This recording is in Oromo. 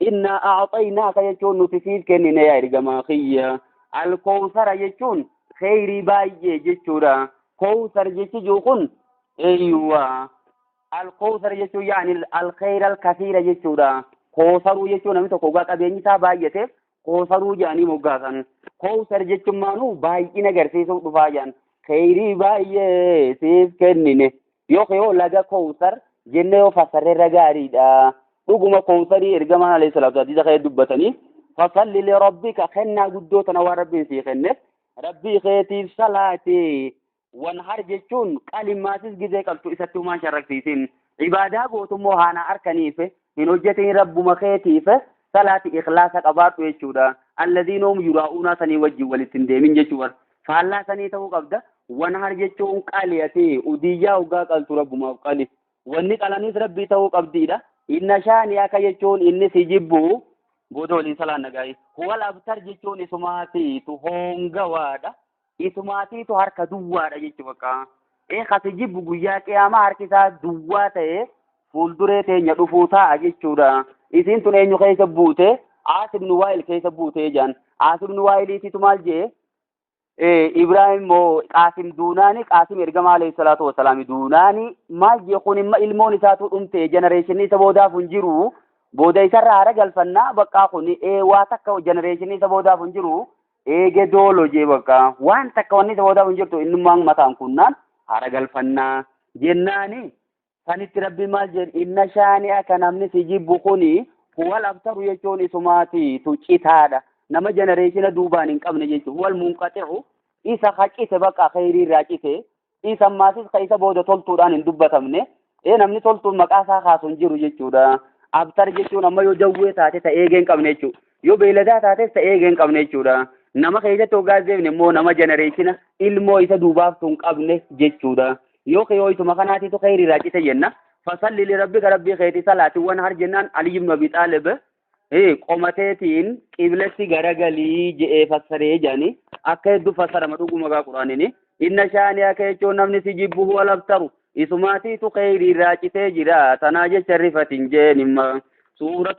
Innaa a'axaynaaka jechuun nuti siif kennine yaa ergamaa kiyya. Alkoowsara jechuun kheyrii baay'ee jechuudha. Koowsar jechi jiru kun eeyyuwa. Alkoowsar jechuun yaani alkheyra alkasiira jechuudha. Koosaruu jechuun namni tokko ogaa qabeenyi isaa baay'ate koosaruu jedhanii moggaasan. Koowsar jechuun maanuu baay'ina agarsiisuuf dhufaa jedhan. Kheyrii baay'ee siif kennine Yookiin yoo laga koowsar jenne yoo fassarre irra gaariidha. Dhuguma koowsarii ergamaan alayhi salaatu hadiisa kee dubbatanii fasalli li rabbika kennaa guddoo tana waan rabbiin sii kenneef rabbii keetiif salaatee wanhar jechuun qalimaatis gizee qabtu isatti humaan sharraksiisin. Ibaadaa gootummoo haanaa harkaniif hin hojjatin rabbuma keetiif salaati ikhlaasa qabaadhu jechuudha alladiina hum yuraa'uunaa sanii wajjin walitti hin deemin jechuu bar faallaa sanii ta'uu qabda wanhar jechuun qali ati udiyyaa hoggaa qaltu rabbumaaf qali wanni qalaniis rabbii ta'uu qabdiidha inna shaani akka jechuun inni si jibbu booda waliin salaan nagaa'ii huwal abtar jechuun isumaati tu hoongawaadha Isumaatiitu harka duwwaadha jechu bakka. Ee kasi jibbu guyyaa qiyaamaa harki isaa duwwaa ta'e fuulduree teenya dhufuu taa'a jechuudha. Isiin tun eenyu keessa buute? Aas ibn Waa'il keessa buute jedhan. Aas ibn Waa'iliitiitu maal jee? Ibraahim moo Qaasim duunaani Qaasim ergamaa alayhi salaatu wasalaami duunaani maal jee kun imma ilmoon isaatu dhumte jenereeshinii isa boodaaf hin jiru booda isarra haara galfannaa baqqaa kun ee waa takka jenereeshinii isa boodaaf hin jiru Eege doolo jee bakka waan takka wanni isa boodaaf hin jirtu innummaan mataan kunnaan haara galfannaa jennaani sanitti rabbi maal jeen inna shaani akka namni si jibbu kuni huwal abtaru jechuun isumaati tu citaadha nama jenereeshina duubaan hin qabne jechuun huwal munqaxi'u isa ka cite bakka kheyrii irraa cite Dhiisammaatis ka isa booda toltuudhaan hin dubbatamne. Ee namni toltuun maqaa isaa kaasu hin jiru jechuudha. Abtar jechuun amma yoo jawwee taate ta eegee hin qabne jechuudha. Yoo beeyladaa taates ta eegee hin qabne jechuudha. Nama keessatti hoggaa deemne immoo nama jenereeshina ilmoo isa duubaaftu hin qabne jechuudha. Yoo keewwatuma kanaatiitu kheyriirraa cite jenna. Fasalli lirabbika rabbii keetii salaatiwwan har jennaan Aliyyii ibnu Abii Xaalib Ee, qomateetiin qiblatti garagalii je'ee fassaree jedhanii akka hedduu fassarama dhuguma gaa quraanini inna shaani'a kee jechuun namni si jibbu huwa labtaru isumaatiitu keeyrii irraa citee jira tanaa jecha rifatin jeen imma suuratu